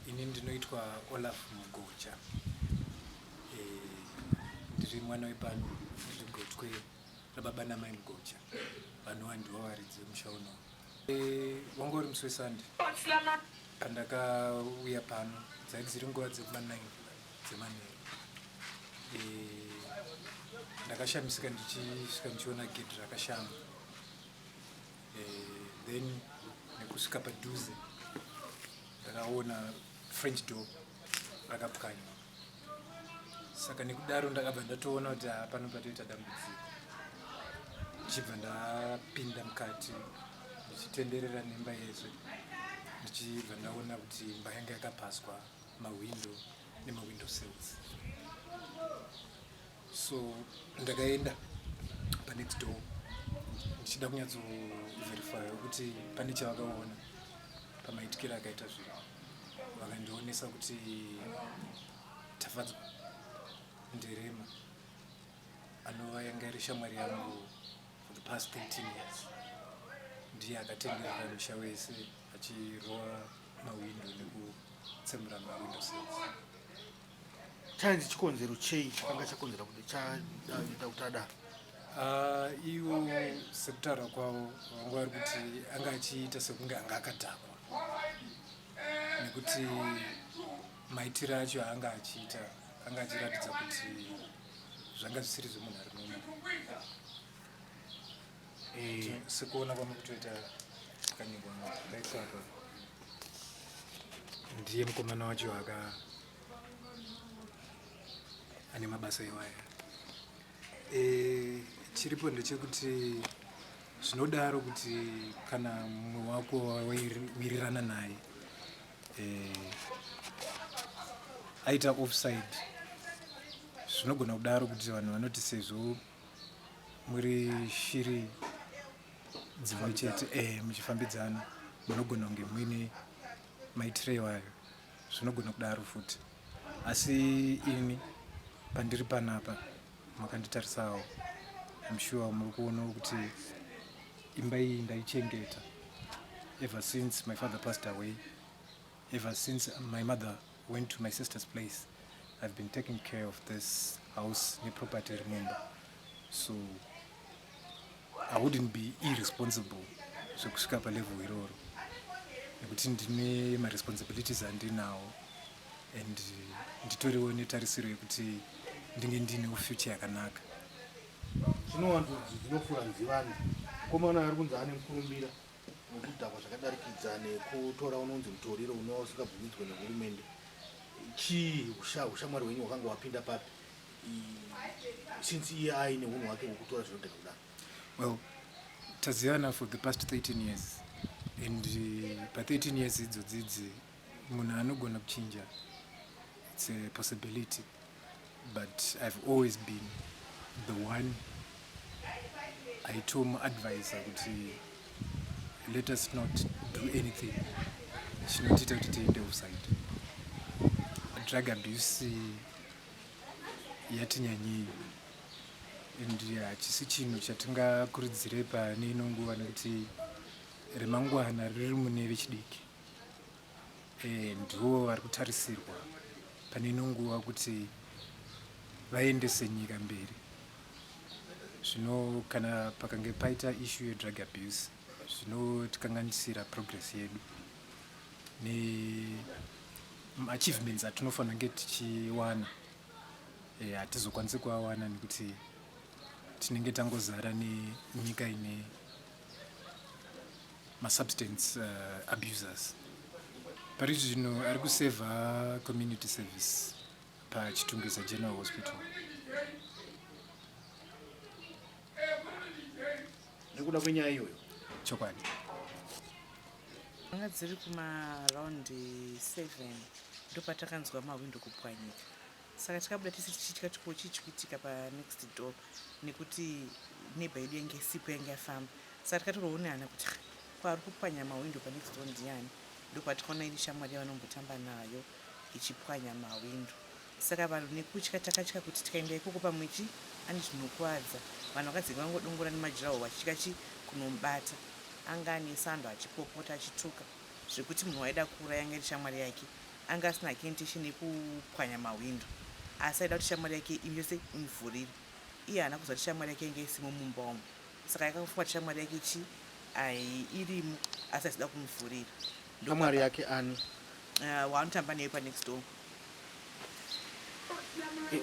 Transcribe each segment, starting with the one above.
Ini ndinoitwa Olaf Mugocha. E, ndiri mwana wepano zvigochwe rababa namai Mugocha vanova ndivo varidzi vemusha uno. E, eh, wanga uri musi wesande pandakauya pano dzaiti dziri nguva dzekumanai dzemanheru e, ndakashamisika ndichisvika ndichiona gedhi rakashama then nekusvika padhuze ndakaona french door rakapwanya saka nekudaro ndakabva ndatoona kuti hapano patoita dambudziko ndichibva ndapinda mukati ndichitenderera nemba yese ndichibva ndaona kuti imba yanga yakapaswa mahwindo nemahwindo sales so ndakaenda panext door ndichida kunyatsoverifya kuti pane chavakaona pamaitikiro akaita zvinhu vakandionesa kuti tafadzwa ndirema anova yanga iri shamwari yangu for the past 13 years ndiye akatenderera musha wese achirova mawindo nekutsemura mawindo sese Chanzi chikonzero chei chakanga chakonzera kuti chaita kuti adaro? Ah, ivo sekutaura kwavo vanga vari kuti anga achiita sekunge anga akadhakwa nekuti maitiro acho aanga achiita anga achiratidza kuti zvanga zvisiri zvemunhu ari muno Eh, sikuona kwangu kutoita kanyimbo kaitsvaka ndiye mukomana wacho aka ane mabasa iwaya eh, chiripo ndechekuti zvinodaro kuti kana mumwe wako wawirirana naye eh, aita offside zvinogona kudaro kuti vanhu vanoti sezvo muri shiri dzimwe chete eh, muchifambidzana munogona kunge muine maitirewo ayo zvinogona kudaro futi asi ini pandiri panapa makanditarisawo amshuwa muri kuonawo kuti imba iyi ndaichengeta ever since my father passed away Ever since my mother went to my sister's place, I've been taking care of this house ne property iri mumba. So I wouldn't be irresponsible zvekusvika pa level iroro nekuti ndine ma responsibilities andinawo and nditoriwo netarisiro yekuti ndinge ndinewo future yakanaka. Zvinowanzonzi zvinofura nzivani, mukomana ari kunzi ane mukurumbira Kudhakwa zvakadarikidza nekutora unonzi mutoriro unova usingabvumidzwe nehurumende. Chii ushamwari hwenyu wakanga wapinda papi since iye aine unhu hwake hwekutora zvinodhaka kudaro? Well, tazivana for the past 13 years and uh, pa 13 years idzodzidzi Munhu anogona kuchinja it's a possibility but I've always been the one aitomu advise kuti let us not do anything chinotiita kuti tiende offside drug abuse yatinyanyei and hachisi chinhu chatingakurudzire pane ino nguva nekuti remangwana riri mune vechidiki eh, ndiwo vari kutarisirwa pane ino nguva kuti vaendese nyika mberi zvino kana pakange paita ishu yedrug abuse zvinotikanganisira progress yedu neachievements atinofanira kunge tichiwana eh, hatizokwanisi e, kuawana nekuti tinenge tangozara nenyika ine masubstance uh, abusers pari zvino ari kuseva community service pachitungwiza general hospital nekuda kwenyaya iyoyo chokwadi anga dziri kumaraundi 7 ndopatakanzwa mahwindo kupwanyika saka takabuda tese tichitya kuti ko chii chikuitika panext door nekuti neighbor yedu yange isipo yange yafamba saka tikatoroo nehana kuti kwaari kupwanya mawindo panext door ndiani ndopatikaona iri shamwari yavanombotamba nayo ichipwanya mawindo saka vanhu nekutya takatya kuti tikaenda ikoko pamwe chi ani zvinokuadza vanhu vakadzenge vangodongora nemajirawo vachitya chi kunomubata anga ane sando achipopota achituka zvekuti munhu waida kuuraya anga iri shamwari yake Anga asina hake intention yekupwanya mahwindo asi aida kuti shamwari yake imi yose imuvhurire. Iye haana kuziva kuti shamwari yake yanga isimo mumba umu saka yakafunga kuti shamwari yake chi ai irimo asi aisida kumuvhurira. Shamwari yake ani? Uh, waanotamba newe panext door.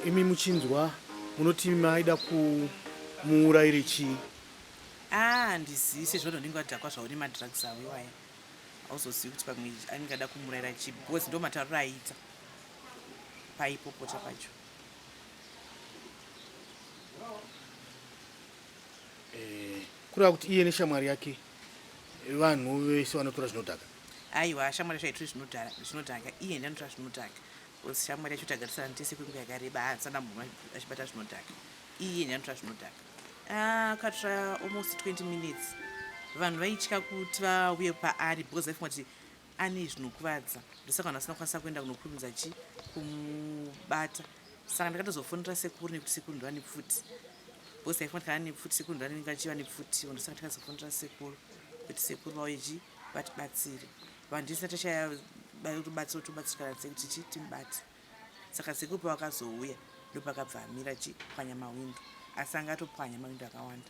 Imi muchinzwa munoti maida kumuuraire chii? Ah, ndizise zvono ndinge wadhakwa zvauri madrugs awo iwaya. hauzozivi kuti pamwe anenge ada kumuraira chii because ndo matauriro aiita paipopota pacho eh, kureva kuti iye neshamwari yake vanhu vese vanotora zvinodhaka aiwa shamwari yacho aitore zvinodhaka iye ndanotora zvinodhaka because shamwari yacho tagarisana tese kwenguva yakareba haasana munhu achibata zvinodhaka iye nyanotora zvinodhaka akatora ah, almost 20 minutes vanhu vaitya kuti vauye paari because vaifunga kuti ane zvinokuvadza ndosaka vanhu vasina kukwanisa kuenda kunokurumidza chi kumubata saka ndakatozofonera sekuru nekuti sekuru ndiva nepfuti because taifunga tikana nepfuti sekuru ndiva nenenge vachiva nepfuti ndosaka tikazofonera sekuru kuti sekuru vauye chi vatibatsire vanhu tisina tachaya bayotobatsira tobatsirikana sekuti chi timubate saka sekuru pavakazouya ndopakabva amira chipwanya mawindo asi anga atopwanya mawindo akawanda